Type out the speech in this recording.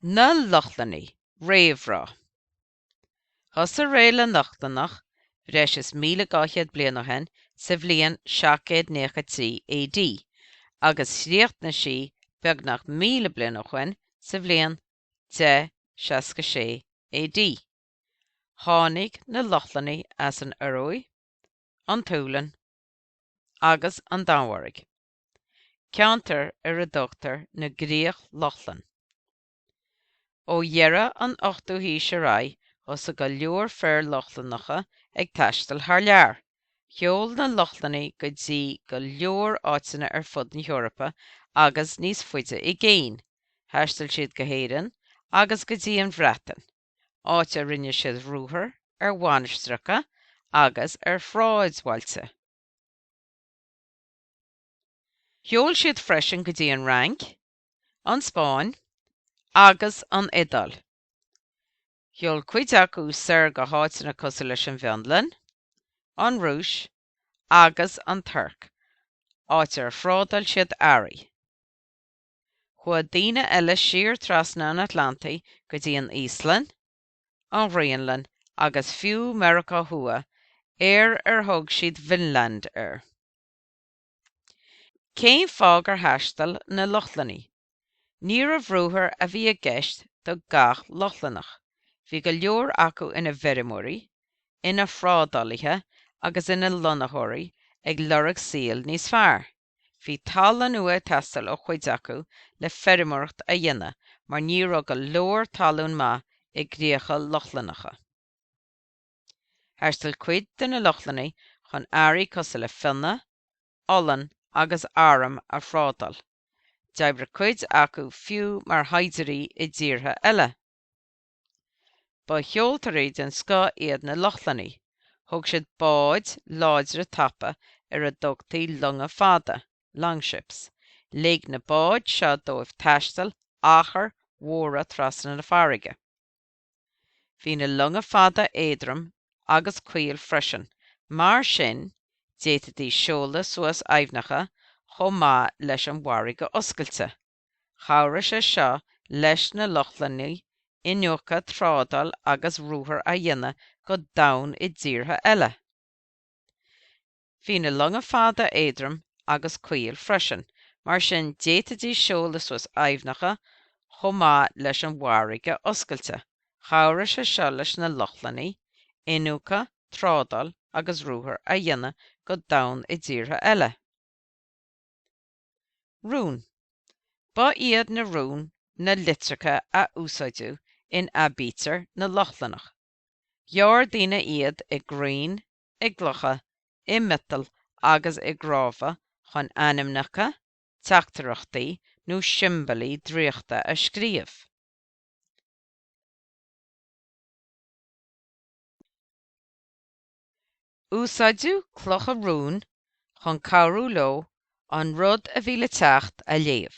Na Lochlannaigh, réamhrá. Thosaigh ré na Lochlannach bhreis is 1,200 bliain ó shin sa bhliain 793 AD agus chríochnaigh sí beagnach míle bliain ó shin sa bhliain 1066 AD. Tháinig na Lochlannaigh as an Ioruaidh, an tSualainn agus an Danmhairg. ceantar ar a dtugtar na gCríoch Lochlann. Ó dheireadh an ochtú haois ar aghaidh thosaigh go leor fir Lochlannacha ag taisteal thar lear. Sheol na Lochlannaigh go dtí go leor áiteanna ar fud na hEorpa agus níos faide i gcéin, thaistil siad go hÉirinn agus go dtí an Bhreatain, áit a rinne siad ruathair ar mhainistreacha agus ar shráidbhailte. Sheol siad freisin go dtí an Fhrainc, an Spáinn agus an Iodáil. Sheol cuid acu soir go háiteanna cosúil leis an bhFionlainn, an Rúis agus an Tuirc, áit ar thrádáil siad earraí. Chuaigh daoine eile siar trasna an Atlantaigh go dtí an Íoslainn, an Ghraonlainn agus fiú Meiriceá Thuaidh ar ar thug siad Vinland air. Cén fáth gur thaistil na Lochlannaigh? Níorbh ruathair a bhí i gceist do gach Lochlannach, bhí go leor acu ina bhfeirmeoirí, ina thrádálaithe agus ina lonnaitheoirí ag lorg saoil níos fearr. Bhí talamh nua ag teastáil ó chuid acu le feirmeoireacht a dhéanamh mar ní raibh go leor talún maith i gcríocha Lochlannacha. Thaistil cuid de na Lochlannaigh chun earraí cosúil le fionnadh, olann agus arm a thrádáil. D'oibrigh cuid acu fiú mar shaighdiúirí i dtíortha eile. Ba sheoltóirí den scoth iad na Lochlannaigh, thóg siad báid láidre tapa ar a dtugtaí longa fada, longships. Lig na báid seo dóibh taisteal achair mhóra trasna na farraige. Bhí na longa fada éadrom agus caol freisin, mar sin d'fhéadfaidís seoladh suas aibhneacha chomh maith leis an bhfarraige oscailte. Chabhraigh sé seo leis na Lochlannaigh iniúchadh, trádáil agus ruathair a dhéanamh go domhain i dtíortha eile. Bhí na longa fada éadrom agus caol freisin, mar sin d'fhéadfaidís seoladh suas aibhneacha chomh maith leis an bhfarraige oscailte. Chabhraigh sé seo leis na Lochlannaigh iniúchadh, trádáil agus ruathair a dhéanamh go domhain i dtíortha eile. Rún, Ba iad na rúna na litreacha a úsáideadh in aibítir na Lochlannach. Ghearr daoine iad i gcrainn, i gclocha, i miotail agus i gcnámha chun ainmneacha, teachtaireachtaí nó siombailí draíochta a scríobh. Úsáideadh clocha rúin chun cabhrú leo an rud a bhí le teacht a léamh.